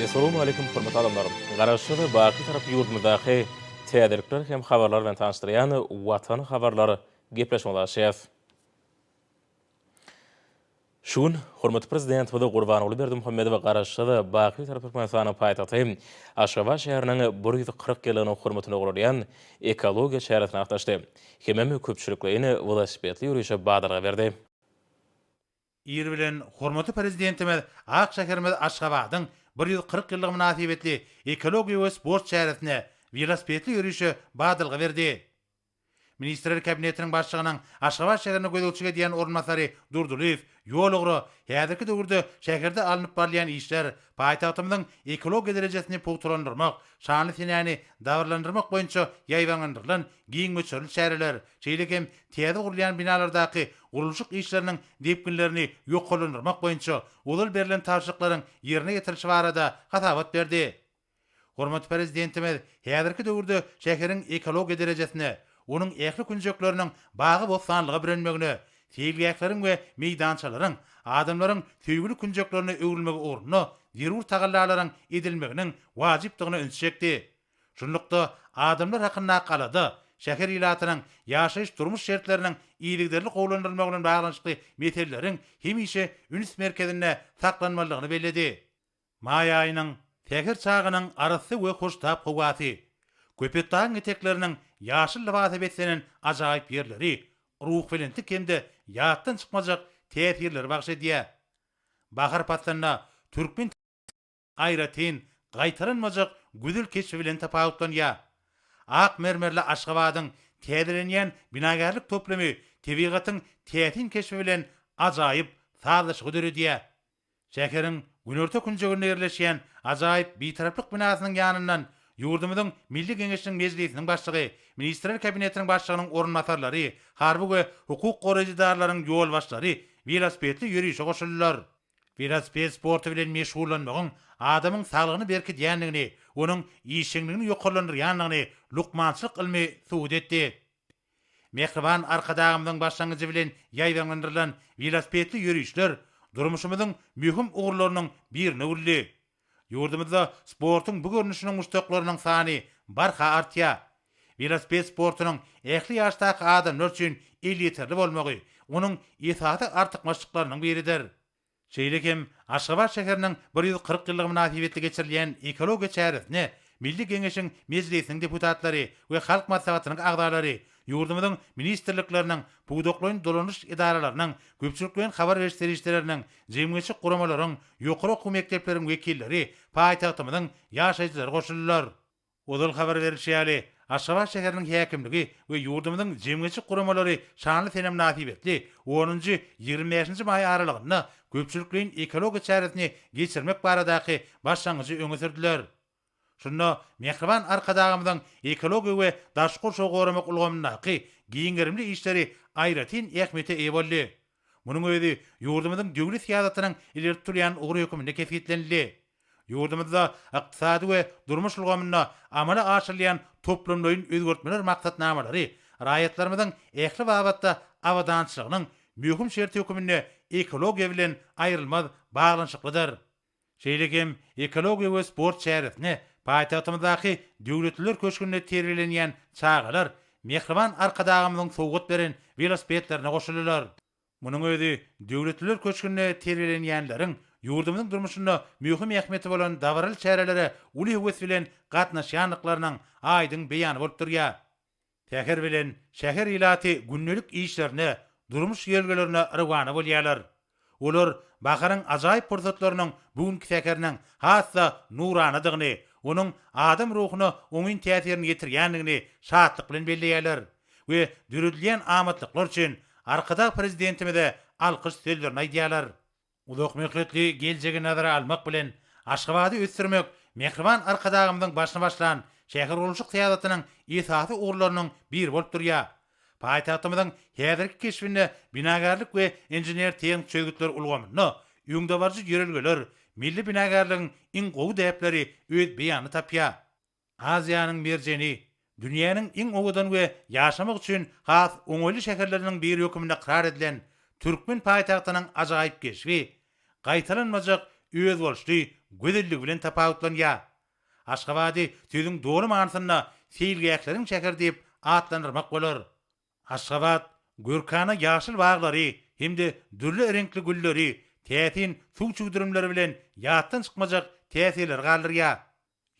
Essalamu aleýkum hormatly adamlar! Garaşsyz, baky tarap ýurdumyzdaky täzelikler hem habarlar bilen tanyşdyrýan Watan habarlar gepleşigine ulaşýas. Şu gün hormatly Prezidentimiz Gurbanguly Berdimuhamedow Garaşsyz, baky tarap Türkmenistanyň paýtagty Aşgabat şäheriniň bir ýüz kyrk ýyllygynyň hormatyna guralýan ekologiýa çäresine gatnaşdy hemem köpçülikleýin welosipedli ýörişe badalga berdi. Ir bilen hormatly Prezidentimiz ak şäherimiz Aşgabadyň bir ýüz kyrk ýyllygy mynasybetli ekologiýa we sport çäresine, welosipedli ýörişe badalga berdi. Ministrler Kabinetiniň Başlygynyň Aşgabat şäherine gözegçilik edýän orunbasary Durdylyýew ýol ugra häzirki döwürde şäherde alnyp barylýan işler, paýtagtymyzyň ekologiýa derejesini pugtalandyrmak, şanly senäni dabaralandyrmak boýunça ýaýbaňlandyrylan giň möçberli çäreler, şeýle hem täze gurulýan binalardaky gurluşyk işleriniň depginlerini ýokarlandyrmak boýunça ozal berlen tabşyryklaryň ýerine ýetirilişi barada hasabat berdi. Hormatly Prezidentimiz häzirki döwürde şäheriň ekologiýa derejesine, onuň ähli künjekleriniň bagy-bossanlyga bürenmegine, seýilgähleriň we meýdançalaryň adamlaryň söýgüli künjeklerine öwrülmegi ugrunda zerur tagallalaryň edilmeginiň wajypdygyna üns çekdi. Şunlukda, adamlar hakyndaky alada, şäher ilatynyň ýaşaýyş-durmuş şertleriniň yzygiderli gowulandyrylmagy bilen baglanyşykly meseleleriň hemişe üns merkezinde saklanmalydygyny belledi. Maý aýynyň säher çagynyň arassa we hoştap howasy, Köpetdagyň etekleriniň ýaşyl lybasa beslenen ajaýyp ýerleri ruhubelentlik hem-de ýatdan çykmajak täsirleri bagyş edýär. Bahar paslynda türkmen. aýratyn gaýtalanmajak güzül keşbi bilen tapawutlanýar. Ak mermerli Aşgabadyň täzelenýän binagärlik toplumy tebigatyň täsin keşbi bilen ajaýyp sazlaşygy döredýär. Şäheriň günorta künjeginde ýerleşýän ajaýyp Bitaraplyk binasynyň ýanyndan ýurdumyzyň Milli Geňeşiniň Mejlisiniň Başlygy, Ministrler Kabinetiniň Başlygynyň orunbasarlary, harby we hukuk goraýjy edaralaryň ýolbaşçylary welosipedli ýörişe goşuldylar. Welosiped sporty bilen meşgullanmagyň adamyň saglygyny berkidýändigini, onuň işjeňligini ýokarlandyrýandygyny lukmançylyk ylmy subut etdi. Mähriban Arkadagymyzyň başlangyjy bilen ýaýbaňlandyrylan welosipedli ýörişler durmuşymyzyň möhüm ugurlarynyň birine öwrüldi. Ýurdumyzda sportuň bu görnüşine muşdaklarynyň sany barha artýar. Welosiped sportunyň ähli ýaşdaky adamlar üçin elýeterli bolmagy onuň esasy artykmaçlyklarynyň biridir. Şeýle hem Aşgabat şäheriniň bir ýüz kyrk ýyllygy mynasybetli geçirilýän ekologiýa çäresine Milli Geňeşiň Mejlisiniň deputatlary we Halk Maslahatynyň agzalary Ýurdumyzyň ministrlikleriniň, pudaklaýyn dolanyş edaralarynyň, köpçülikleýin habar beriş serişdeleriniň, jemgyýetçilik guramalaryň, ýokary okuw mekdepleriň wekilleri, paýtagtymyzyň ýaşaýjylary goşuldylar. Ozal habar berlişi ýaly, Aşgabat şäheriniň häkimligi we ýurdumyzyň jemgyýetçilik guramalary şanly sene mynasybetli onunjy, ýigrimi bäşinji maý aralygynda köpçülikleýin ekologiýa çäresini geçirmek baradaky başlangyjy öňe sürdüler. Şunda mähriban Arkadagymyzyň ekologiýa we daşky gurşawy goramak ulgamyndaky giň gerimli işleri aýratyn ähmiýete eýe boldy. Munuň özi ýurdumyzyň döwlet syýasatynyň ileri tutulýan ugry hökmünde kesgitlenildi. Ýurdumyzda ykdysady we durmuş ulgamynda amala aşyrylýan toplumlaýyn özgertmeler maksatnamalary raýatlarymyzyň ähli babatda abadançylygynyň möhüm şerti hökmünde ekologiýa bilen aýrylmaz baglanyşyklydyr. Şeýle hem ekologiýa we sport çäresine paýtagtymyzdaky Döwletliler köşgünde terbiýelenýän çagalar mähriban Arkadagymyzyň sowgat beren welosipedlerine goşuldylar. Munuň özi Döwletliler köşgünde terbiýelenýänleriň ýurdumyzyň durmuşynda möhüm ähmiýeti bolan dabaraly çärelere uly höwes bilen gatnaşýandyklarynyň aýdyň beýany bolup durýar. Säher bilen şäher ilaty gündelik işlerine, durmuş ýörelgelerine rowana bolýarlar. Olar baharyň ajaýyp pursatlarynyň bu günki säheriniň has-da nuranadygyny, onuň adam ruhuna oňyn täsirini ýetirýändigini şatlyk bilen belleýärler we döredilýän amatlyklar üçin Arkadag Prezidentimize alkyş sözlerini aýdýarlar. Uzakmöhletli geljegi nazara almak bilen, Aşgabady ösdürmek mähriban Arkadagymyzyň başyny başlan şähergurluşyk syýasatynyň esasy ugurlarynyň biri bolup durýar. Paýtagtymyzyň häzirki keşbinde binagärlik we inžener-tehniki çözgütler ulgamynda öňdebaryjy ýörelgeler, milli binagärligiň iň gowy däpleri öz beýanyny tapýar. Aziýanyň merjeni, dünýäniň iň owadan we ýaşamak üçin has oňaýly şäherleriniň biri hökmünde ykrar edilen türkmen paýtagtynyň ajaýyp keşbi, gaýtalanmajak özboluşly gözelligi bilen tapawutlanýar. Aşgabady sözüň doly manysynda seýilgähleriň şäheri diýip atlandyrmak bolar. Aşgabat görkana ýaşyl baglary hem-de dürli reňkli gülleri, täsin suw çüwdürimleri bilen ýatdan çykmajak täsirleri galdyrýar.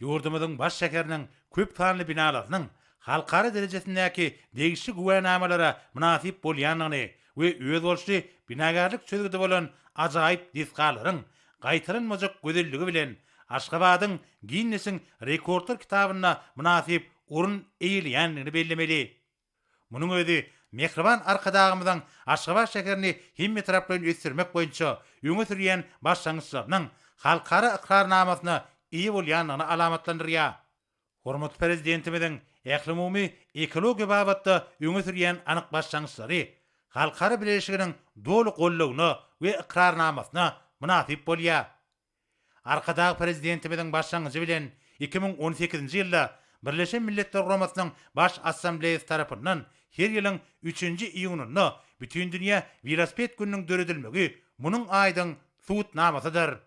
Ýurdumyzyň baş şäheriniň köp sanly binalarynyň halkara derejesindäki degişli güwänamalara mynasyp bolýandygyny we özboluşly binagärlik çözgüdi bolan ajaýyp desgalaryň gaýtalanmajak gözelligi bilen Aşgabadyň Ginnesiň rekordlar kitabynda mynasyp orun eýeleýändigini bellemeli. Munuň özi mähriban Arkadagymyzyň Aşgabat şäherini hemmetaraplaýyn ösdürmek boýunça öňe sürýän başlangyçlarynyň halkara ykrarnamasyna eýe bolýandygyny alamatlandyrýar. Hormatly Prezidentimiziň ählumumy ekologiýa babatda öňe sürýän anyk başlangyçlary halkara bileleşiginiň doly goldawyna we ykrarnamasyna mynasyp bolýar. Arkadag Prezidentimiziň başlangyjy bilen iki müň on sekizinji ýylda Birleşen Milletler Guramasynyň Baş Assambleýasy tarapyndan her ýylyň üçünji iýunynda Bütindünýä welosiped gününiň döredilmegi munuň aýdyň subutnamasydyr.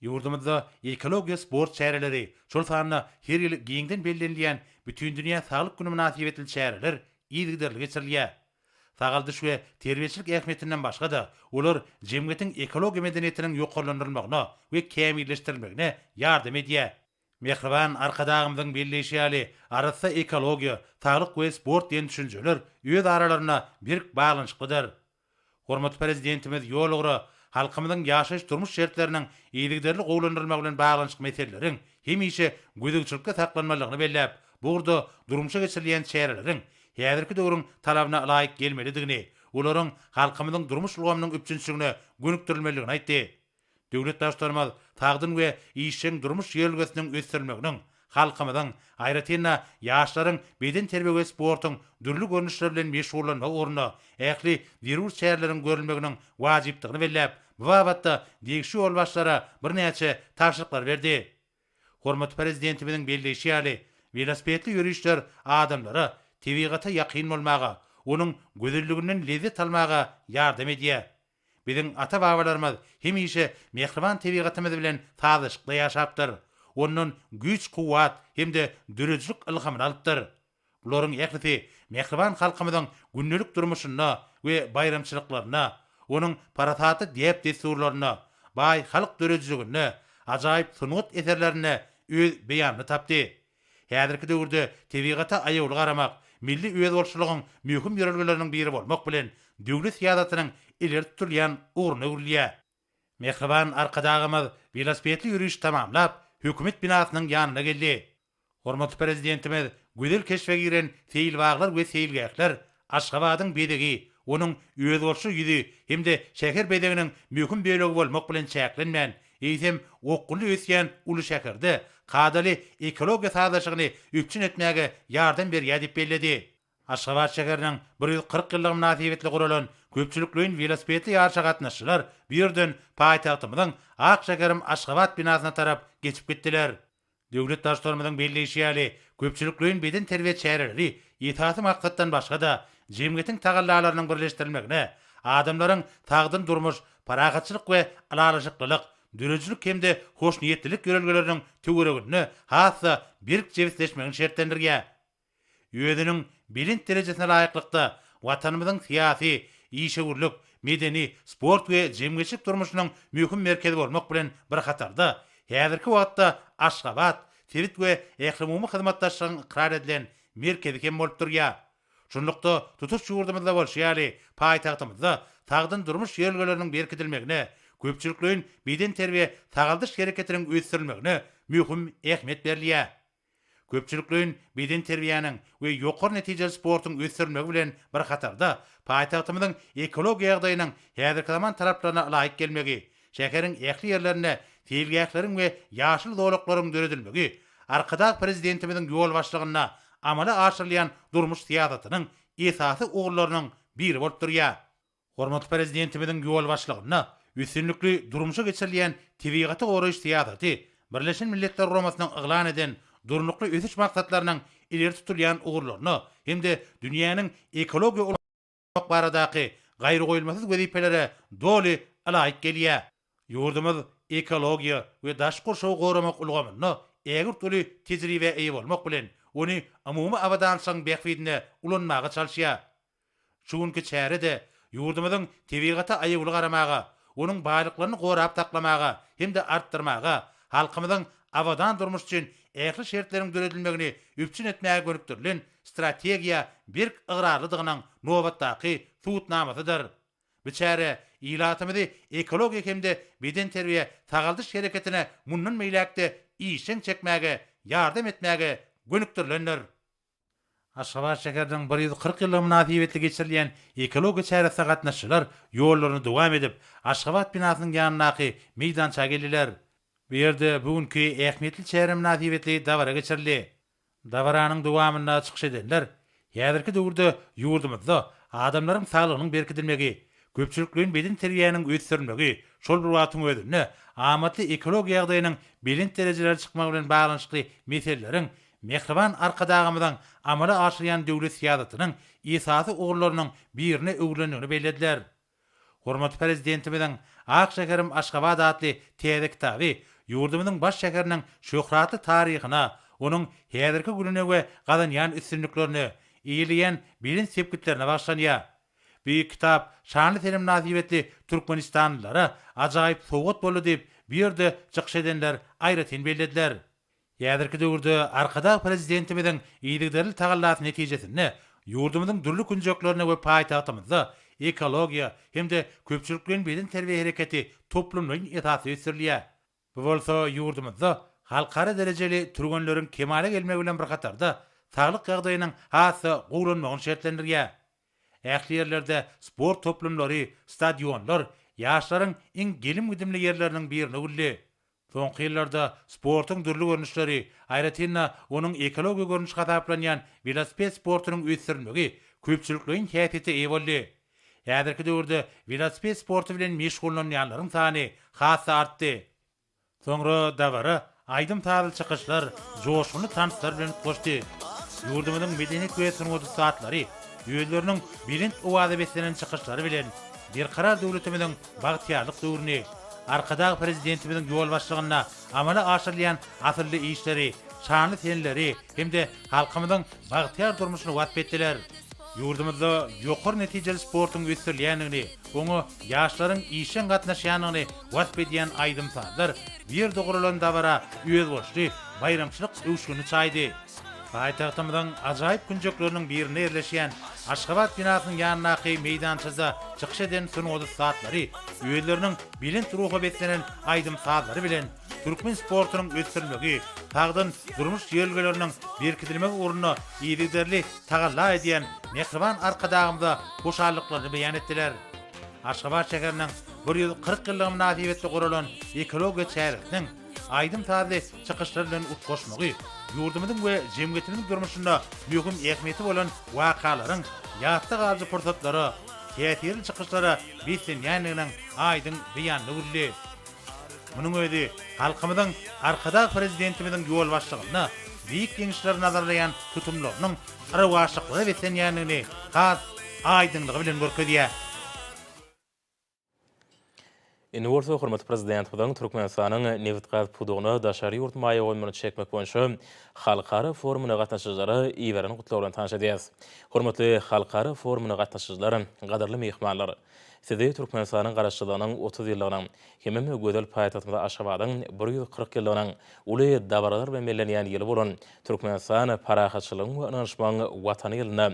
Ýurdumyzda ekologiýa sport çäreleri, şol sanda her ýyl giňden bellenilýän Bütindünýä saglyk güni mynasybetli çäreler yzygiderli geçirilýär. Sagaldyş we terbiýeçilik ähmiýetinden başga-da, olar jemgyýetiň ekologiýa medeniýetiniň ýokarlandyrylmagyna we kämilleşdirilmegine ýardam edýär. Mähriban Arkadagymyzyň belleýşi ýaly, arassa ekologiýa, saglyk we sport diýen düşünjeler öz aralarynda berk baglanyşyklydyr. Hormatly Prezidentimiz ýol ugra, halkymyzyň ýaşaýyş-durmuş şertleriniň yzygiderli gowulandyrylmagy bilen baglanyşykly meseleleriň hemişe gözegçilikde saklanmalydygyny belläp, bu ugurda durmuşa geçirilýän çäreleriň häzirki döwrüň talabyna ylaýyk gelmelidigini, olaryň halkymyzyň durmuş ulgamynyň üpjünçiligine gönükdirilmelidigini aýtdy. Döwlet Baştutanymyz sagdyn we işjeň durmuş ýörelgesiniň ösdürilmeginiň, halkymyzyň, aýratyn-da, ýaşlaryň bedenterbiýe we sportuň dürli görnüşleri bilen meşgullanmagy ugrunda ähli zerur çäreleriň görülmeginiň wajypdygyny belläp, bu babatda degişli ýolbaşçylara birnäçe tabşyryklary berdi. Hormatly Prezidentimiziň belleýşi ýaly, welosipedli ýörişler adamlara tebigata ýakyn bolmaga, onuň gözelliginden lezzet almaga ýardam edýär. Biziň ata-babalarymyz hemişe mähriban tebigatymyz bilen sazlaşykda ýaşapdyr, ondan güýç-kuwwat hem-de döredijilik ylhamyny alypdyr. Bularyň ählisi mähriban halkymyzyň gündelik durmuşynda we baýramçylyklarynda, onuň parasatly däp-dessurlarynda, baý halk döredijiliginde, ajaýyp sungat eserlerinde öz beýanyny tapdy. Häzirki döwürde tebigata aýawly garamak, milli özboluşlylygyň möhüm ýörelgeleriniň biri bolmak bilen, döwlet syýasatynyň ileri tutulýan ugruna öwrülýär. Mähriban Arkadagymyz welosipedli ýöriş tamamlap, Hökümet binasynyň ýanyna geldi. Hormatly Prezidentimiz gözel keşbe giren seýilbaglar we seýilgähler, Aşgabadyň bezegi, onuň özboluşly ýüzi hem-de şäher bezeginiň möhüm bölegi bolmak bilen çäklenmän, eýsem, okgunly ösýän uly şäherde kadaly ekologiýa sazlaşygyny üpjün etmäge ýardam berýär diýip belledi. Aşgabat şäheriniň bir ýüz kyrk ýyllygy mynasybetli guralan köpçülikleýin welosipedli ýaryşa gatnaşyjylar bu ýerden paýtagtymyzyň Ak şäherim Aşgabat binasyna tarap geçip gitdiler. Döwlet Baştutanymyzyň belleýşi ýaly, köpçülikleýin bedenterbiýe çäreleri esasy maksatdan başga-da, jemgyýetiň tagallalarynyň birleşdirilmegine, adamlaryň sagdyn durmuş, parahatçylyk we ylalaşyklylyk, döredijilik hem-de hoşniýetlilik ýörelgeleriniň töwereginde has-da berk jebisleşmegini şertlendirýär. Özüniň belent derejesine laýyklykda, Watanymyzyň syýasy, işewürlik, medeni, sport we jemgyýetçilik durmuşynyň möhüm merkezi bolmak bilen bir hatarda, häzirki wagtda Aşgabat sebit we ählumumy hyzmatdaşlygyň ykrar edilen merkezi hem bolup durýar. Şunlukda, tutuş ýurdumyzda bolşy ýaly, paýtagtymyzda sagdyn durmuş ýörelgeleriniň berkidilmegine, köpçülikleýin bedenterbiýe-sagaldyş hereketiniň ösdürilmegine möhüm ähmiýet berilýär. köpçülikleýin bedenterbiýäniň we ýokary netijeli sportuň ösdürilmegi bilen bir hatarda, paýtagtymyzyň ekologiýa ýagdaýynyň häzirki zaman talaplaryna ylaýyk gelmegi, şäheriň ähli ýerlerinde seýilgähleriň we ýaşyl zolaklaryň döredilmegi Arkadag Prezidentimiziň ýolbaşçylygynda amala aşyrylýan durmuş syýasatynyň esasy ugurlarynyň biri bolup durýar. Hormatly Prezidentimiziň ýolbaşçylygynda üstünlikli durmuşa geçirilýän tebigaty goraýyş syýasaty Birleşen Milletler Guramasynyň yglan eden Durnukly ösüş maksatlarynyň ileri tutulýan ugurlaryna hem-de dünýäniň ekologiýa ulgamyny goramak baradaky gaýragoýulmasyz wezipelere doly ylaýyk gelýär. Ýurdumyz ekologiýa we daşky gurşawy goramak ulgamynda ägirt uly tejribä eýe bolmak bilen, ony umumy abadançylygyň bähbidine ulanmaga çalyşýar. Şu günki çäre-de ýurdumyzyň tebigata aýawly garamaga, onuň baýlyklaryny gorap saklamaga hem-de artdyrmaga, halkymyzyň abadan durmuş üçin ähli şertleriň döredilmegini üpjün etmäge gönükdirilen strategiýa berk ygrarlydygynyň nobatdaky subutnamasydyr. Bu çäre ilatymyzy ekologiýa hem-de bedenterbiýe-sagaldyş hereketine mundan beýläk-de işjeň çekmäge ýardam etmäge gönükdirilendir. Aşgabat şäheriniň bir ýüz kyrk ýyllygy mynasybetli geçirilýän ekologiýa çäresine gatnaşyjylar ýollaryny dowam edip, Aşgabat binasynyň ýanyndaky meýdança geldiler. Bu ýerde bu günki ähmiýetli çäre mynasybetli dabara geçirildi. Dabaranyň dowamynda çykyş edenler häzirki döwürde ýurdumyzda adamlaryň saglygynyň berkidilmegi, köpçülikleýin bedenterbiýäniň ösdürilmegi şol bir wagtyň özünde amatly ekologiýa ýagdaýynyň belent derejelere çykmagy bilen baglanyşykly meseleleriň Mähriban Arkadagymyzyň amala aşyrýan döwlet syýasatynyň esasy ugurlarynyň birine öwrülendigini bellediler. Hormatly Prezidentimiziň Ak şäherim Aşgabat atly täze kitaby ýurdumyzyň baş şäheriniň şöhratly taryhyna, onuň häzirki gününe we gazanýan üstünliklerine, eýeleýän belent sepgitlerine bagyşlanýar. Beýik kitap şanly sene mynasybetli türkmenistanlylara ajaýyp sowgat boldy diýip, bu ýerde çykyş edenler aýratyn bellediler. Häzirki döwürde Arkadag Prezidentimiziň yzygiderli tagallasy netijesinde ýurdumyzyň dürli künjeklerinde we paýtagtymyzda ekologiýa hem-de köpçülikleýin bedenterbiýe hereketi toplumlaýyn esasda ösdürilýär. Bu bolsa ýurdumyzda halkara derejeli türgenleriň kemala gelmegi bilen bir hatarda saglyk ýagdaýynyň has-da gowulanmagyny şertlendirýär. Ähli ýerlerde sport toplumlary, stadionlar ýaşlaryň iň gelim-gidimli ýerleriniň birine öwrüldi. Soňky ýyllarda sportuň dürli görnüşleri, aýratyn-da, onuň ekologiýa görnüşi hasaplanýan welosiped sportunyň ösdürilmegi köpçülikleýin häsiýete eýe boldy. Häzirki döwürde welosiped sporty bilen meşgullanýanlaryň sany has-da artdy. Soňra dabara aýdym-sazly çykyşlar, joşgunly tanslar bilen utgaşdy. Ýurdumyzyň medeniýet we sungat ussatlary özleriniň belent owaza beslenen çykyşlary bilen Berkarar döwletimiziň bagtyýarlyk döwrüni, Arkadag Prezidentimiziň ýolbaşçylygynda amala aşyrylýan asylly işleri, şanly senleri hem-de halkymyzyň bagtyýar durmuşyny wasp etdiler. Ýurdumyzda ýokary netijeli sportuň ösdürilýändigini, oňa ýaşlaryň işjeň gatnaşýandygyny wasp edýän aýdym-sazlar, bu ýerde guralan dabara özboluşly baýramçylyk öwüşgini çaýdy. Paýtagtymyzyň ajaýyp künjekleriniň birinde ýerleşýän Aşgabat binasynyň ýanyndaky meýdançada çykyş eden sungat ussatlary özleriniň belent ruha beslenen aýdym-sazlary bilen türkmen sportunyň ösdürilmegi, sagdyn durmuş ýörelgeleriniň berkidilmegi ugrunda yzygiderli tagalla edýän mähriban Arkadagymyza hoşallyklaryny beýan etdiler. Aşgabat şäheriniň bir ýüz kyrk ýyllygy mynasybetli guralan ekologiýa çäresiniň, aýdym-sazly çykyşlar bilen utgaşmagy, ýurdumyzyň we jemgyýetimiziň durmuşynda möhüm ähmiýeti bolan wakalaryň ýatda galyjy pursatlara, täsirli çykyşlara beslenýändiginiň aýdyň beýanyny bildi. Munuň özi halkymyzyň Arkadag Prezidentimiziň ýolbaşçylygynda beýik ýeňişleri nazarlaýan tutumlarynyň yrawaçlyklara beslenýändigini has aýdyňlygy bilen görkezýär. Indi bolsa hormatly Prezidentimiziň Türkmenistanyň nebitgaz pudagyna daşary ýurt maýa goýumlaryny çekmek boýunça halkara forumyna gatnaşyjylara iberen gutlagy bilen tanyş edýäris. Hormatly halkara forumyna gatnaşyjylar, gadyrly myhmanlar! Sizi Türkmenistanyň Garaşsyzlygynyň otuz ýyllygynyň hemem gözel paýtagtymyz Aşgabadyň bir ýüz kyrk ýyllygynyň uly dabaralar bilen bellenýän ýyly bolan Türkmenistan parahatçylygyň we ynanyşmagyň Watany ýylynda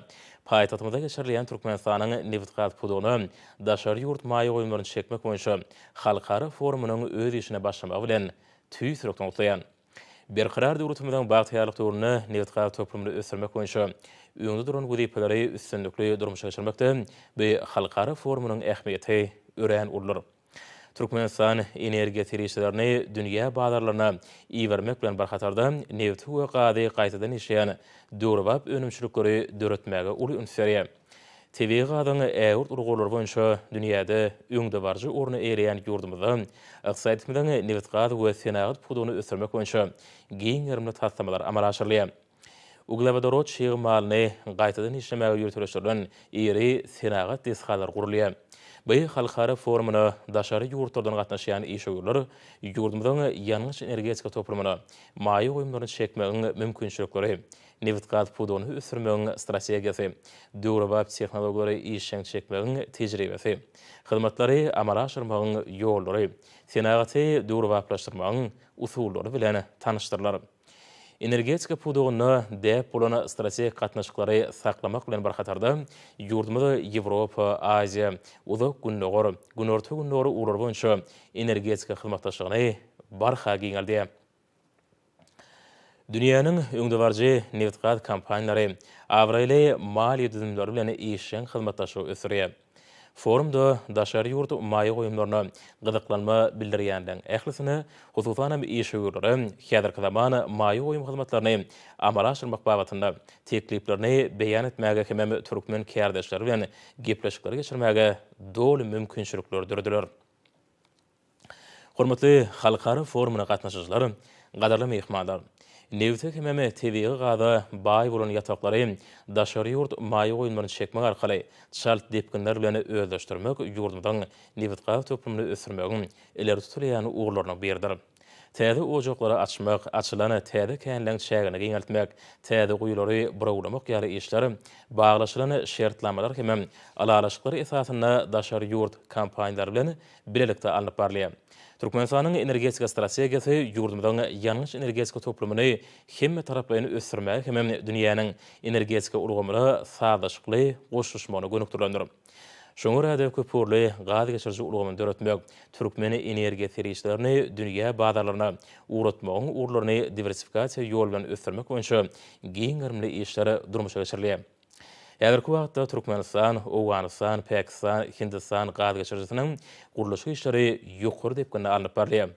paýtagtymyzda geçirilýän Türkmenistanyň nebitgaz pudagyna daşary ýurt maýa goýumlaryny çekmek boýunça halkara forumynyň öz işine başlamagy bilen tüýs ýürekden gutlaýan. Berkarar döwletimiziň bagtyýarlyk döwründe nebit-gaz toplumyny ösdürmek boýunça öňde duran wezipeleri üstünlikli durmuşa geçirmekde bu halkara forumynyň ähmiýeti örän uludyr. Türkmenistan energiýa serişdelerini dünýä bazarlaryna ibermek bilen bir hatarda, nebiti we gazy gaýtadan işleýän döwrebap önümçilikleri döretmäge uly üns berýär. Tebigy gazyň ägirt uly gorlary boýunça dünýäde öňdebaryjy orny eýeleýän ýurdumyzda ykdysadyýetimiziň nebitgaz we senagat pudagyny ösdürmek boýunça giň gerimli taslamalar amala aşyrylýar. Uglewodorod çig malyny gaýtadan işlemäge ýöriteleşdirilen iri senagat desgalary gurulýar. BI halkara forumyna daşary ýurtlardan gatnaşýan işewürler ýurdumyzyň ýangyç-energetika toplumyna maýa goýumlaryny çekmegiň mümkinçilikleri, Nebitgaz pudagyny ösdürmegiň strategiýasy, döwrebap tehnologiýalary işjeň çekmegiň tejribesi, hyzmatlary amala aşyrmagyň ýollary, senagaty döwrebaplaşdyrmagyň usullary bilen tanyşdyrylar. Energetika pudagynda däp bolan strategik gatnaşyklary saklamak bilen bir hatarda, ýurdumyz Ýewropa, Aziýa, Uzak Gündogar, Günorta-Gündogar ugurlary boýunça energetika hyzmatdaşlygyny barha giňeldýär. Dünýäniň öňdebaryjy nebitgaz kompaniýalary abraýly maliýe düzümleri bilen işjeň hyzmatdaşlygy ösdürýär. Forumda daşary ýurt maýa goýumlaryna gyzyklanma bildirýänleriň ählisine, hususan hem işewürlere häzirki zaman maýa goýum hyzmatlaryny amala aşyrmak babatynda tekliplerini beýan etmäge hemem türkmen kärdeşleri bilen gepleşikleri geçirmäge doly mümkinçilikler dörediler. Hormatly halkara forumyna gatnaşyjylar, gadyrly myhmanlar! Nebte hemem tebigy gaza baý bolan ýataklary daşary ýurt maýa goýumlaryny çekmek arkaly çalt depginler bilen özleşdirmek ýurdumyzyň nebitgaz toplumyny ösdürmegiň ileri tutulýan ugurlarynyň biridir. Täze ojaklary açmak, açylan täze känleriň çägini giňeltmek, täze guýulary burawlamak ýaly işler baglaşylan şertnamalar hemem ylalaşyklar esasynda daşary ýurt kompaniýalary bilen bilelikde alnyp barylýar. Türkmenistanyň energetika strategiýasy ýurdumyzyň ýangyç-energetika toplumyny hemmetaraplaýyn ösdürmäge hem-de dünýäniň energetika ulgamyna sazlaşykly goşulyşmagyna gönükdirilendir. Şoňa görä-de, köpugurly gaz geçiriji ulgamyny döretmek, türkmen energiýa serişdelerini dünýä bazarlaryna ugratmagyň ugurlaryny diwersifikasiýa ýoly bilen ösdürmek boýunça giň gerimli işler durmuşa geçirilýär. Häzirki wagtda Türkmenistan, Owganystan, Pakistan, Hindistan gaz geçirijisiniň gurluşyk işleri ýokary depginde alnyp barylýar.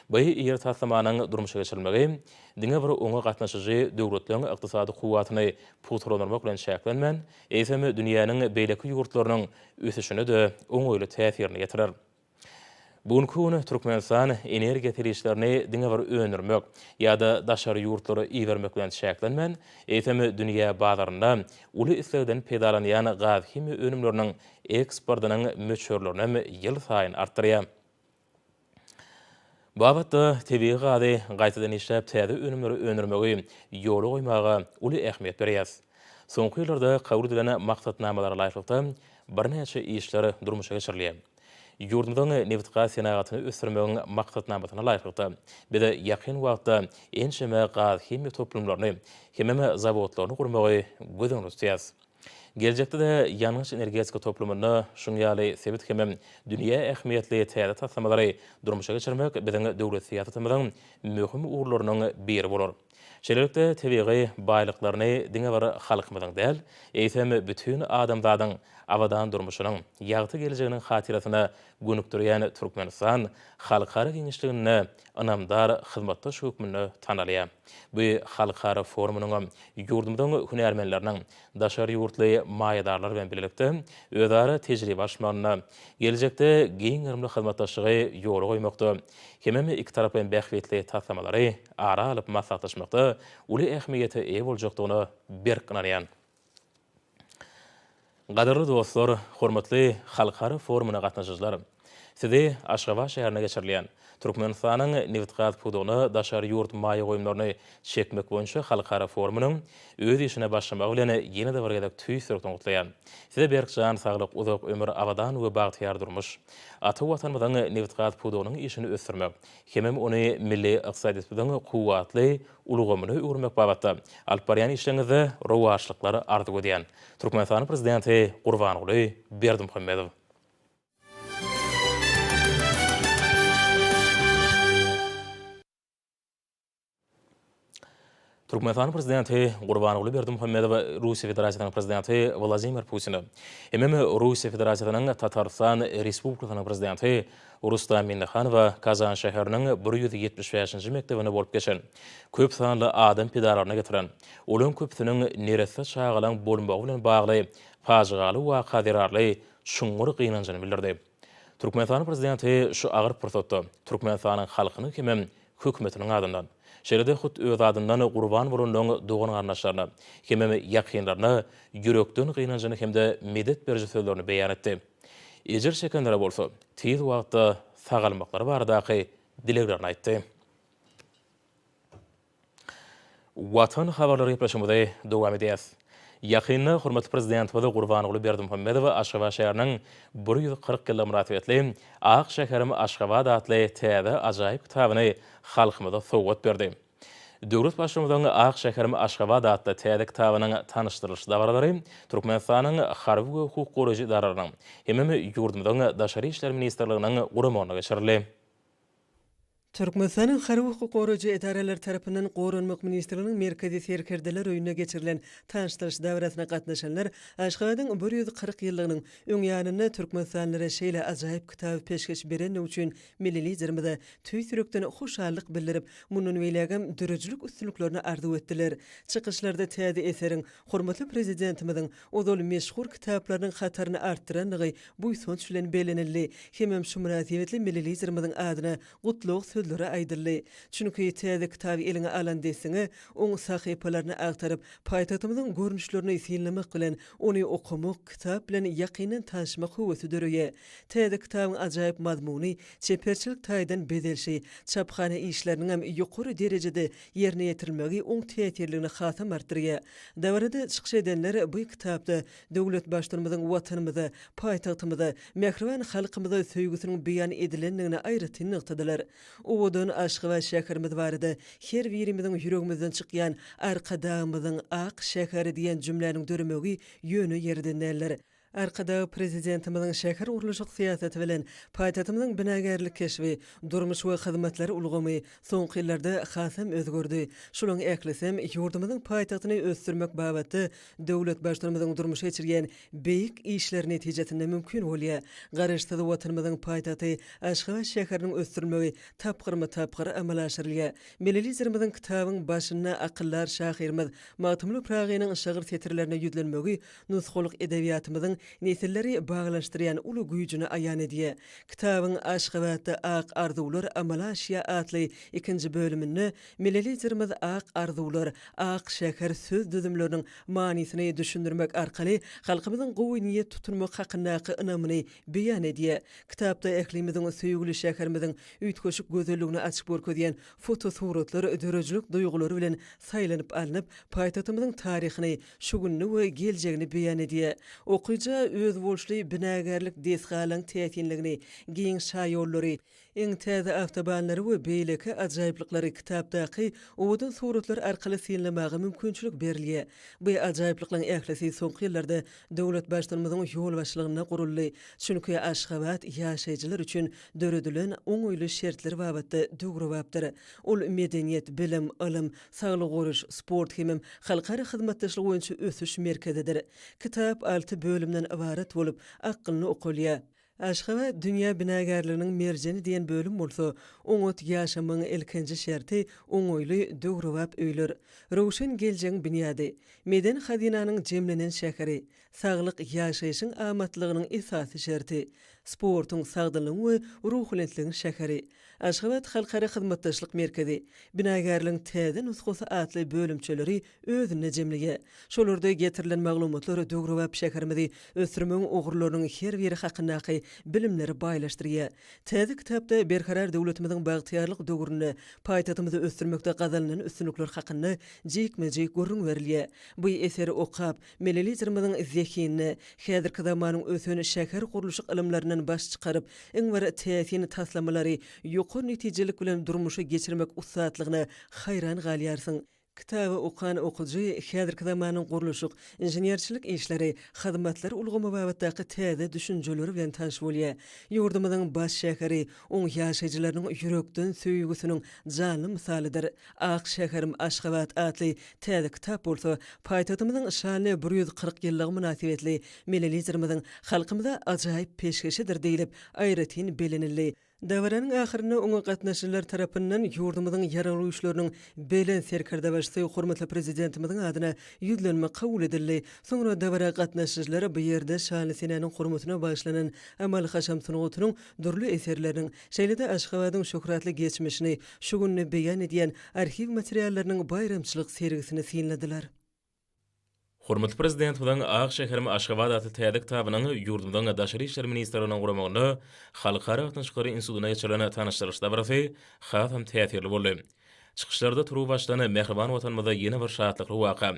Bu iri taslamanyň durmuşa geçirilmegi diňe bir oňa gatnaşyjy döwletleriň ykdysady kuwwatyny pugtalandyrmak bilen çäklenmän, eýsem, dünýäniň beýleki ýurtlarynyň ösüşine-de oňaýly täsirini ýetirer. Bu günki gün Türkmenistan energiýa serişdelerini diňe bir öndürmek ýa-da daşary ýurtlara ibermek bilen çäklenmän, eýsem, dünýä bazarynda uly islegden peýdalanýan gazhimiýa önümleriniň eksportynyň möçberlerini hem ýylsaýyn artdyrýar. Bu babatda tebigy gazy gaýtadan işläp täze önümleri öndürmegi ýola goýmaga uly ähmiýet berýäris. Soňky ýyllarda kabul edilen maksatnamalara laýyklykda birnäçe işler durmuşa geçirilýär. Ýurdumyzyň nebitgaz senagatyny ösdürmegiň maksatnamasyna laýyklykda, biz ýakyn wagtda ençeme gazhimiýa toplumlaryny hemem zawodlaryny gurmagy göz öňünde tutýarys. Geljekde-de ýangyç-energetika toplumynda şuň ýaly sebit hemem dünýä ähmiýetli täze taslamalary durmuşa geçirmek biziň döwlet syýasatymyzyň möhüm ugurlarynyň biri bolar. Şeýlelikde, tebigy baýlyklaryny diňe bir halkymyzyň däl, eýsem, bütin adamzadyň abadan durmuşynyň, ýagty geljeginiň hatyrasyna gönükdirýän Türkmenistan halkara giňişliginde ynamdar hyzmatdaş hökmünde tanalýar. Bu halkara forumynyňam ýurdumyzyň hünärmenleriniň daşary ýurtly maýadarlar bilen bilelikde özara tejribe alyşmagynda, geljekde giň gerimli hyzmatdaşlygy ýola goýmakda hemem ikitaraplaýyn bähbitli taslamalary ara alyp maslahatlaşmakda uly ähmiýete eýe boljakdygyna berk ynanýan. Gadyrly dostlar, hormatly halkara forumyna gatnaşyjylar! Sizi Aşgabat şäherinde geçirilýän Türkmenistanyň nebitgaz pudagyna daşary ýurt maýa goýumlaryny çekmek boýunça halkara forumynyň öz işine başlamagy bilen ýene-de bir gezek tüýs ýürekden gutlaýan. Size berk jan saglyk, uzak ömür, abadan we bagtyýar durmuş! Ata Watanymyzyň nebitgaz pudagynyň işini ösdürmek, hemem ony milli ykdysadyýetimiziň kuwwatly ulgamyna öwürmek babatda alyp barýan işleriňizde rowaçlyklar arzuw edýän. Türkmenistanyň Prezidenti Gurbanguly Berdimuhamedow. Türkmenistanyň Prezidenti Gurbanguly Berdimuhamedow Russiýa Federasiýasynyň Prezidenti Wladimir Putine hemem Russiýa Federasiýasynyň Tatarystan Respublikasynyň Prezidenti Rustam Minnihanowa Kazan şäheriniň bir ýüz ýetmiş bäşinji mekdebinde bolup geçen köp sanly adam pidalaryna getiren, olaryň köpüsiniň neresse çagalaryň bolmagy bilen bagly pajygaly waka zerarly çuňňur gynanjyny bildirdi. Türkmenistanyň Prezidenti şu agyr pursatda Türkmenistanyň halkynyň hemem Hökümetiniň adyndan, şeýle-de hut özi adyndan gurban bolanlaryň dogan-garyndaşlaryna hemem ýakynlaryna ýürekden gynanjyny hem-de medet beriji sözlerini beýan etdi. Ejir çekenlere bolsa tiz wagtda sagalmaklary baradaky dileglerini aýtdy. Watan habarlary gepleşigimizi dowam edýäs. Ýakynda hormatly Prezidentimiz Gurbanguly Berdimuhamedow Aşgabat şäheriniň bir ýüz kyrk ýyllygy mynasybetli Ak şäherim Aşgabat atly täze ajaýyp kitabyny halkymyza sowgat berdi. Döwlet Baştutanyň Ak şäherim Aşgabat atly täze kitabynyň tanyşdyrylyş dabaralary Türkmenistanyň Harby we hukuk goraýjy edaralarynyň hemem ýurdumyzyň Daşary işler ministrliginiň guramagynda geçirildi. Türkmenistanyň harby hukuk goraýjy edaralary tarapyndan Goranmak ministrliginiň Merkezi serkerdeler öýünde geçirilen tanyşdyryş dabarasyna gatnaşanlar Aşgabadyň bir ýüz kyrk ýyllygynyň öň ýanynda türkmenistanlylara şeýle ajaýyp kitaby peşgeş berendigi üçin Milli Liderimize tüýs ýürekden hoşallyk bildirip, mundan beýlägem döredijilik üstünliklerini arzuw etdiler. Çykyşlarda täze eseriň hormatly Prezidentimiziň ozal meşhur kitaplarynyň hataryny artdyrandygy buýsanç bilen bellenildi hemem şu mynasybetli Milli Liderimiziň adyna gutlag sözleri aýdyldy. Çünki täze kitaby eliňe alan dessine, oň sahypalaryny agtaryp, paýtagtymyzyň görnüşlerini synlamak bilen, ony okamak, kitap bilen ýakyndan tanşmak höwesi döreýär. Täze kitabyň ajaýyp mazmuny, çeperçilik taýdan bezelişi, çaphana işleriniňem ýokary derejede ýerine ýetirilmegi oň täsirligini hasam artdyrýar. Dabarada çykyş edenler bu kitapda döwlet Baştutanymyzyň Watanymyza, paýtagtymyza, mähriban halkymyza söýgüsiniň beýan edilendigini aýratyn nygtadylar. Owadan Aşgabat şäherimiz barada her birimiziň ýüregimizden çykýan Arkadagymyzyň ak şäher diýen jümläniň döremegi ýöne ýerden däldir. Arkadag Prezidentimiziň şähergurluşyk syýasaty bilen paýtagtymyzyň binagärlik keşbi, durmuş we hyzmatlar ulgamy soňky ýyllarda hasam özgerdi. Şolaryň ählisem ýurdumyzyň paýtagtyny ösdürmek babatda döwlet Baştutanymyzyň durmuşa geçirýän beýik işleri netijesinde mümkin bolýar. Garaşsyz Watanymyzyň paýtagty Aşgabat şäheriniň ösdürilmegi tapgyrma-tapgyr amala aşyrylýar. Milli Liderimiziň kitabyň başynda akyldar şahyrymyz Magtymguly Pyragynyň şygyr setirlerine ýüzlenmegi nusgalyk edebiýatymyzyň nesilleri baglanyşdyrýan uly güýjüni aýan edýär. Kitabyň Aşgabatda ak arzuwlar amala aşýar atly ikinji bölüminde milli Liderimiz ak arzuwlar, ak şäher söz düzümleriniň manysyny düşündirmek arkaly halkymyzyň gowy niýet tutunmak hakyndaky ynamyny beýan edýär. Kitapda ählimiziň söýgüli şäherimiziň üýtgeşik gözelligini açyp görkezýän fotosuratlar döredijilik duýgulary bilen saýlanyp alnyp, paýtagtymyzyň taryhyny, şu gününi we geljegini beýan edýär. Okyja özboluşly binagärlik desgalaryň täsinligini, giň şaýollary, iň täze awtobanlary we beýleki ajaýyplyklary kitapdaky owadan suratlar arkaly synlamaga mümkinçilik berilýär. Bu ajaýyplyklaryň ählisi soňky ýyllarda döwlet Baştutanymyzyň ýolbaşçylygynda guruldy, çünki Aşgabat ýaşaýjylar üçin döredilen oňaýly şertler babatda döwrebapdyr. Ol medeniýet, bilim, ylym, Saglygy goraýyş, sport hemem halkara hyzmatdaşlygy boýunça ösüş merkezidir. Kitap alty bölümden ybarat bolup, akgynly okalýar. Aşgabat dünýä binagärliginiň merjeni diýen bölüm bolsa, oňat ýaşamagyň ilkinji şerti, oňaýly, döwrebap öýler. Röwşen geljegiň binýady. Medeni hazynanyň jemlenen şäheri. Saglyk, ýaşaýşyň amatlygynyň esasy şerti. Sportuň, sagdynlygyň we ruhubelentligiň şäheri. Aşgabat halkara hyzmatdaşlyk merkezi, binagärligiň täze nusgasy atly bölümçeleri özünde jemleýär. Şolarda getirilen maglumatlar döwrebap şäherimizi ösdürmegiň ugurlarynyň her biri hakyndaky bilimleri baýlaşdyrýar. Täze kitapda Berkarar döwletimiziň bagtyýarlyk döwründe paýtagtymyzy ösdürmekde gazanylan üstünlikler hakynda jikme-jik gürrüň berilýär. Bu eseri okap, Milli Liderimiziň zehinli, häzirki zamanyň ösen şähergurluşyk ylymlaryndan baş çykaryp, iň bir täsin taslamalary ýokary netijelik bilen durmuşa geçirmek ussatlygyna haýran galýarsyň. Kitaby okan okyjy häzirki zamanyň gurluşyk, inženerçilik işleri, hyzmatlar ulgamy babatdaky täze düşünjeler bilen tanyş bolýar. Ýurdumyzyň baş şäheri oň ýaşaýjylarynyň ýürekden söýgüsiniň janly mysalydyr. Ak şäherim Aşgabat atly täze kitap bolsa paýtagtymyzyň şanly bir ýüz kyrk ýyllygy mynasybetli Milli Liderimiziň halkymyza ajaýyp peşgeşidir diýlip, aýratyn bellenildi. Dabaranyň ahyrynda oňa gatnaşyjylar tarapyndan ýurdumyzyň Ýaragly Güýçleriniň Belent Serkerdebaşysy hormatly Prezidentimiziň adyna ýüzlenme kabul edildi. Soňra dabara gatnaşyjylar bu ýerde şanly senäniň hormatyna bagyşlanan amaly-haşam sungatynyň dürli eserleriniň, Şeýle-de Aşgabadyň şöhratly geçmişini şu gününi beýan edýän arhiw materiallarynyň baýramçylyk sergisini synladylar. Hormatly Prezidentimiziň Ak şäherim Aşgabat atly täze kitabynyň ýurdumyzyň Daşary işler ministrliginiň guramagynda Halkara gatnaşyklary institutynda geçirilen tanyşdyryş dabarasy hasam täsirli boldy. Çykyşlarda turuwbaşdan mähriban Watanymyzda ýene bir şatlykly waka,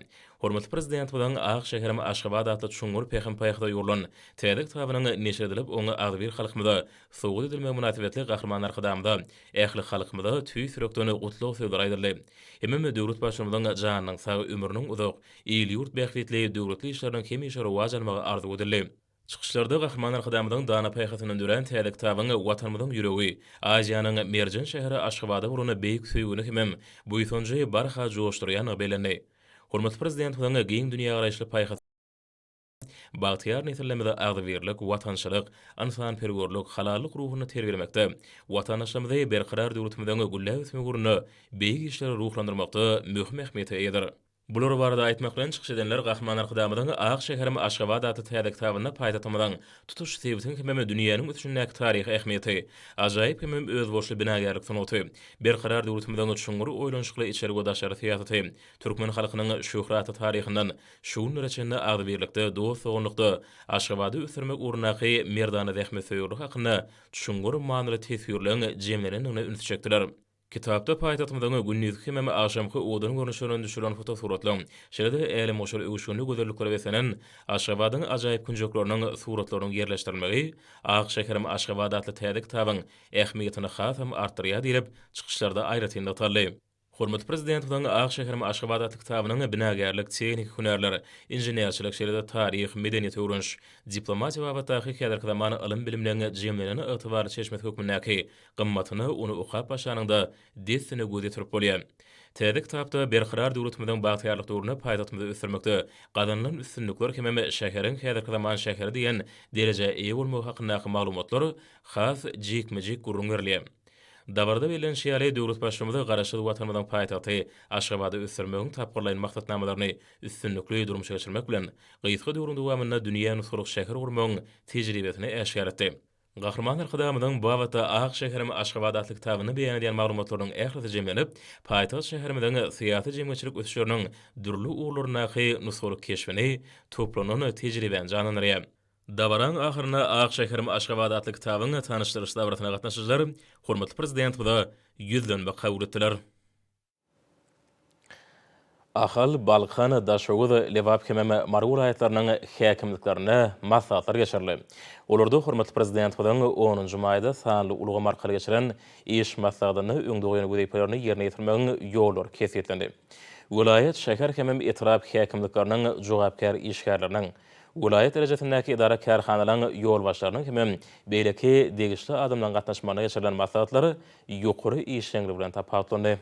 hormatly Prezidentimiziň Ak şäherim Aşgabat atly çuňňur pähim-paýhasa ýugrulan täze kitabynyň neşir edilip, oň agzybir halkymyza sowgat edilmegi mynasybetli Gahryman Arkadagymyza, ähli halkymyza tüýs ýürekden gutlag sözleri aýdyldy. Hemem döwlet Baştutanynyň janynyň sag, ömrüniň uzak, il-ýurt bähbitli, döwletli işleriniň hemişe rowaç almagy arzuw edildi. Çykyşlarda Gahryman Arkadagymyzyň dana paýhasyndan dörän täze kitabyň Watanymyzyň ýüregi, Aziýanyň merjen şäheri Aşgabada bolan beýik söýgini hemem buýsanjy barha joşdurýandygy bellendi. Hormatly Prezidentimiziň giň dünýägaraýyşly paýhasy bagtyýar nesillerimizi agzybirlik, watançylyk, ynsanperwerlik, halallyk ruhunda terbiýelemekde, watandaşlarymyzy Berkarar döwletimiziň gülläp ösmegi ugrunda beýik işleri ruhlandyrmakda möhüm ähmiýete eýedir. Bular barada aýtmak bilen çykyş edenler Gahryman Arkadagymyzyň Ak şäherim Aşgabat atly täze kitabynda paýtagtymyzyň tutuş sebitiň hemem dünýäniň ösüşindäki taryhy ähmiýeti, ajaýyp hemem özboluşly binagärlik sungaty, Berkarar döwletimiziň çuňňur oýlanyşykly içeri we daşary syýasaty, türkmen halkynyň şöhratly taryhyndan şu günlere çenli agzybirlikde, dost-doganlykda Aşgabady ösdürmek ugrundaky merdana zähmetsöýerlik hakynda çuňňur manyly teswirleň jemlenendigine ünsi çekdiler. Kitapda paýtagtymyzyň gündizki hemem agşamky owadan görnüşlerinden düşürilen fotosuratlar, şeýle-de älemgoşar öwüşginli gözelliklere beslenen Aşgabadyň ajaýyp künjekleriniň suratlarynyň ýerleşdirilmegi Ak şäherim Aşgabat atly täze kitabyň ähmiýetini hasam artdyrýar diýlip, çykyşlarda aýratyn nygtaldy. Hormatly Prezidentimiziň Ak şäherim Aşgabat atly kitabynyň binagärlik, tehniki hünärler, inženerçilik, şeýle-de taryh, medeniýet öwreniş, diplomatiýa babatdaky häzirki zaman ylym-bilimleň jemlenen ygtybarly çeşmesi hökmündäki Gymmatyna ony okap başlanyňda dessine göz ýetirip bolýar. Täze kitapda Berkarar döwletimiziň bagtyýarlyk döwründe paýtagtymyzy ösdürmekde gazanylan üstünlikler hemem şäheriň häzirki zaman şäheri diýen derejä eýe bolmagy hakyndaky maglumatlar has jikme-jik gürrüň berilýär. Dabarada bellenişi ýaly, döwlet Baştutmyz Garaşsyz Watanymyzyň paýtagty Aşgabady ösdürmegiň tapgyrlaýyn maksatnamalaryny üstünlikli durmuşa geçirmek bilen, gysga döwrüň dowamynda dünýä nusgalyk şäher gurmagyň tejribesini äşgär etdi. Gahryman Arkadagymyzyň bu babatda Ak şäherim Aşgabat atly kitabynda beýan edýän maglumatlarynyň ählisi jemlenip, paýtagt şäherimiziň syýasy-jemgyýetçilik ösüşleriniň dürli ugurlaryndaky nusgalyk keşbini, toplanan tejribäni janlandyrýar. Dabaranyň ahyrynda Ak şäherim Aşgabat atly kitabyň tanyşdyryş dabarasyna gatnaşyjylar hormatly Prezidentimize ýüzlenme kabul etdiler. Ahal, Balkan, Daşoguz, Lebap hem-ä Mary welaýatlarynyň häkimliklerinde maslahatlar geçirildi. Olarda hormatly Prezidentimiziň onunjy maýda sanly ulgam arkaly geçiren iş maslahatynda öňde goýan wezipelerini ýerine ýetirmegiň ýollary kesgitlendi. Welaýat, şäher hem-ä etrap häkimlikleriniň jogapkär işgärleriniň, welaýat derejesindäki edara-kärhanalaryň ýolbaşçylarynyň hem beýleki degişli adamlaryň gatnaşmagynda geçirilen maslahatlar ýokary işjeňligi bilen tapawutlandy.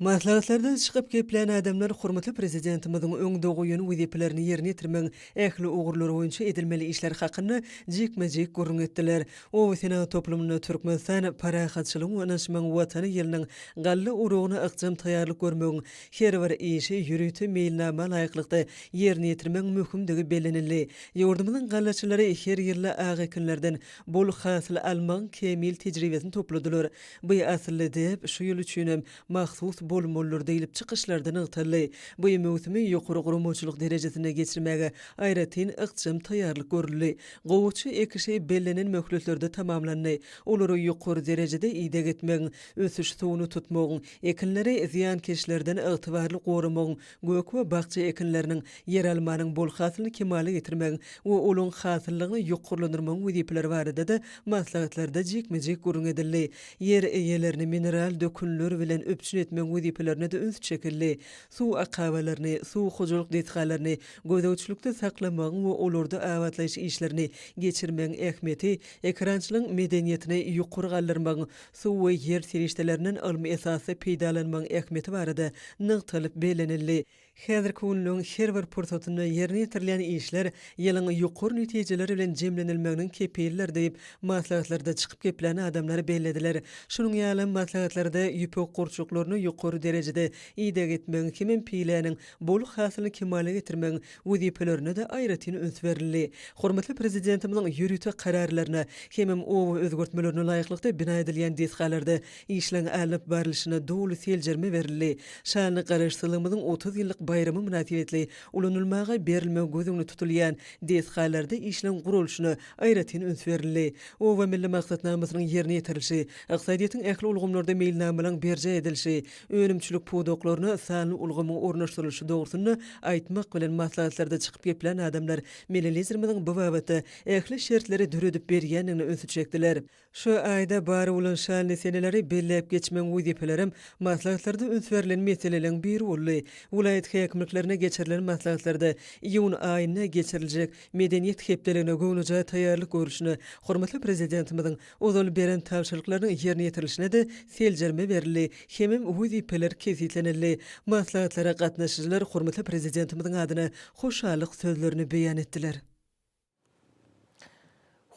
Maslahatlardan çykyp geplän adamlar hormatly Prezidentimiziň öň doguýan wezipelerini ýerine ýetirmegiň ähli ugurlary boýunça edilmeli işler hakynda jikme-jik gürrüň etdiler. Obasenagat toplumynda Türkmenistan parahatçylygyň we ynanyşmagyň Watany ýylynyň galla oragyna ykjam taýýarlyk görmegiň Her bir işi ýörite meýilnama laýyklykda ýerine ýetirmegiň möhümdigi bellenildi. Ýurdumyzyň gallaçylary her ýylda ak ekinlerden bol hasyl almagyň kämil tejribesini topladylar. Bu asylly däp şu ýyl üçin hem mahsus bolmalydyr diýlip, çykyşlarda nygtaldy. Bu möwsümi ýokary guramaçylyk derejesinde geçirmäge aýratyn ykjam taýýarlyk görüldi. Gowaça ekişi bellenen möhletlerde tamamlandy. Olary ýokary derejede ideg etmegiň, ösüş suwuny tutmagyň, Ekinleri zyýankeşlerden ygtybarly goramagyň, gök we bakja ekinleriniň, ýeralmanyň bol hasylyny kemala getirmegiň we olaryň hasyllygyny ýokarlandyrmagyň wezipeleri barada-da maslahatlarda jikme-jik gürrüň edildi. Ýer eýelerini mineral dökünler bilen üpjün etmegiň wezipelerine-de üns çekildi. Suw akabalaryny, suw hojalyk desgalaryny gözegçilikde saklamagyň we olarda abatlaýyş işlerini geçirmegiň ähmiýeti, ekerançylygyň medeniýetini ýokary galdyrmagyň, suw we ýer serişdelerinden ylmy esasda peýdalanmagyň ähmiýeti barada nygtalyp bellenildi. Häzirki günlügiň her bir pursatynda ýerine ýetirilýän işler ýylyň ýokary netijeleri bilen jemlenilmeginiň kepilidir diýip, maslahatlarda çykyp geplän adamlar bellediler. Şunuň ýaly, maslahatlarda ýüpek gurçuklaryna ýokary derejede ideg etmegiň hemem piläniň bol hasylyny kemala getirmegiň wezipelerine-de aýratyn üns berildi. Hormatly Prezidentimiziň ýörite kararlaryna hemem oba özgertmelerine laýyklykda bina edilýän desgalarda işleň alnyp barlyşyna doly seljerme berildi. Şanly Garaşsyzlygymyzyň otuz ýyllyk baýramy mynasybetli ulanylmaga berilmegi göz öňünde tutulýan desgalarda işleň guralyşyna aýratyn üns berildi. Oba milli maksatnamasynyň ýerine ýetirilişi, ykdysadyýetiň ähli ulgamlarda meýilnamalaryň berjaý edilişi, önümçilik pudaklaryna sanly ulgamyň ornaşdyrylyşy dogrusynda aýtmak bilen maslahatlarda çykyp geplän adamlar Melelizerimiziň bu babatda ähli şertleri döredip berýändigine ünsi çekdiler. Şu aýda bar bolan şanly seneleri belläp geçmegiň wezipelerem maslahatlarda üns berlen meseleleriň biri boldy. Welaýat häkimliklerine geçirilen maslahatlarda iýun aýynda geçiriljek Medeniýet hepdeligine göwnejaý taýýarlyk görlüşine hormatly Prezidentimiziň Ozal beren tabşyryklarynyň ýerine ýetirilişine-de seljerme berildi hemem wezipeler kesgitlenildi. Maslahatlara gatnaşyjylar hormatly Prezidentimiziň adyna hoşallyk sözlerini beýan etdiler.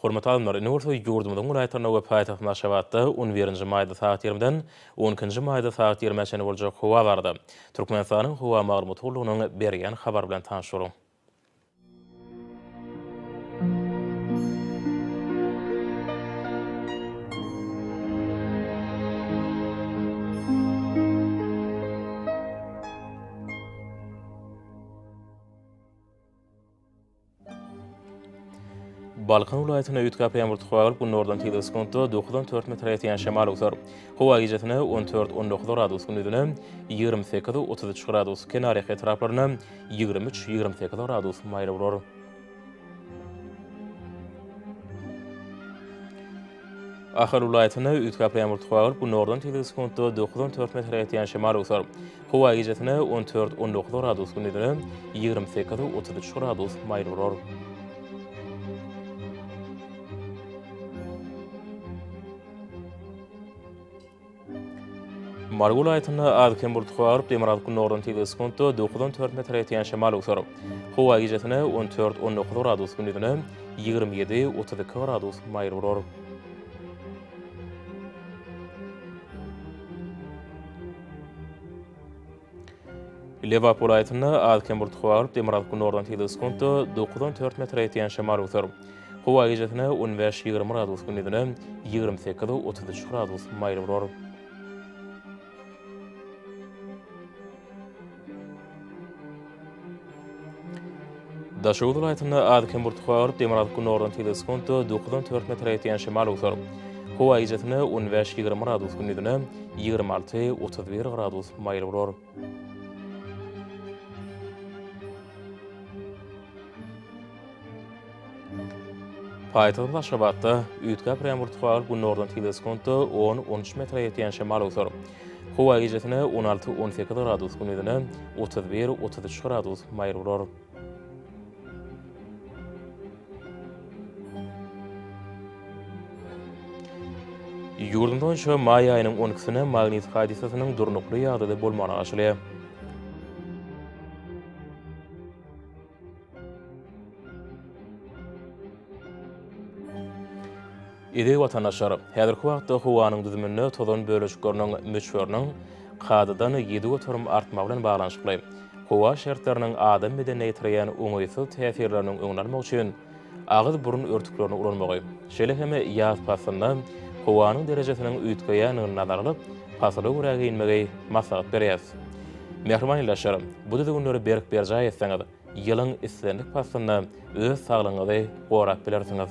Hormatly alymlar, indi bolsa ýurdumyzyň welaýatlarynda we paýtagtymyz Aşgabatda on birinji maýda sagat ýigrimiden on ikinji maýda sagat ýigrimä çenli boljak howa barada Türkmenistanyň howa maglumat gullugynyň berýän habary bilen tanyş boluň. Balkan welaýatyna üýtgäp ýagyr tuha gelip, gündogardan tizligi sekuntda 9-4 metre ýetýän şemal öwser. Howa gijesine 14-19 gradus, gündizine 28-33 gradus, kenarýaka etraplaryna Ýigrimi üç, ýigrimi sekiz gradus maýyl bolar. Ahal welaýatyna üýtgäp ýagyr tuhagyr, günordan tizligi sekuntda dokuz on dört metre ýetýän şemal öwser. Howa gijesine on dört, on dokuz gradus gündizine ýigrimi sekiz, otuz üç gradus maýyl bolar. Mary welaýatynda az-kem bulutly galyp, demirgazyk gündogardan tizligi sekuntda dokuz on dört metre ýetýän şemal öwser. Howa gijesine on dört, on dokuz gradus, gündizine ýigrimi ýedi, otuz iki gradus maýyl bolar. Lebap welaýatynda az-kem bulutly howa bolup, demirgazyk günordan tizligi sekuntda dokuz on dört metre ýetýän şemal öwser. Howa gijesine on bäş, ýigrimi gradus, gündizine ýigrimi sekiz, otuz üç gradus maýyl bolar. Daşoguz welaýatynda az-kem burtgua galyp, demir alyp günordan sekiz sekuntda, dokuzdan dört metre ýetýän şemal öwser. Howa gijesine on bäş, ýigrimi gradus, gündizine ýigrimi alty, otuz bir gradus maýyl bolar. Paýtagtymyz Aşgabatda üýtgäp ürän wurtgawul günordan tizligi sekuntda on, on üç metre ýetýän şemal öwser. Howa gijesine on alty, on sekiz gradus, gündizine otuz bir, otuz üç gradus maýyl bolar. Ýurdumyz boýunça maý aýynyň on ikisine magnit hadysasynyň durnukly ýagdaýda bolmagyna garaşylýar. Eziz watandaşlar! Häzirki wagtda howanyň düzüminde tozan bölejikleriniň möçberiniň kadadan ýedi göterim artmagy bilen baglanyşykly, howa şertleriniň adam bedenine ýetirýän oňaýsyz täsirleriniň öňüni almak üçin, agyz-burun örtüklerini ulanmagy, şeýle hem ýaz paslynda howanyň derejesiniň üýtgeýändigini nazara alyp, pasyla görä geýinmegi maslahat berýäris. Mähriban ildeşler, bu düzgünleri berk berjaý etseňiz, ýylyň islendik paslynda öz saglygyňyzy gorap bilersiňiz.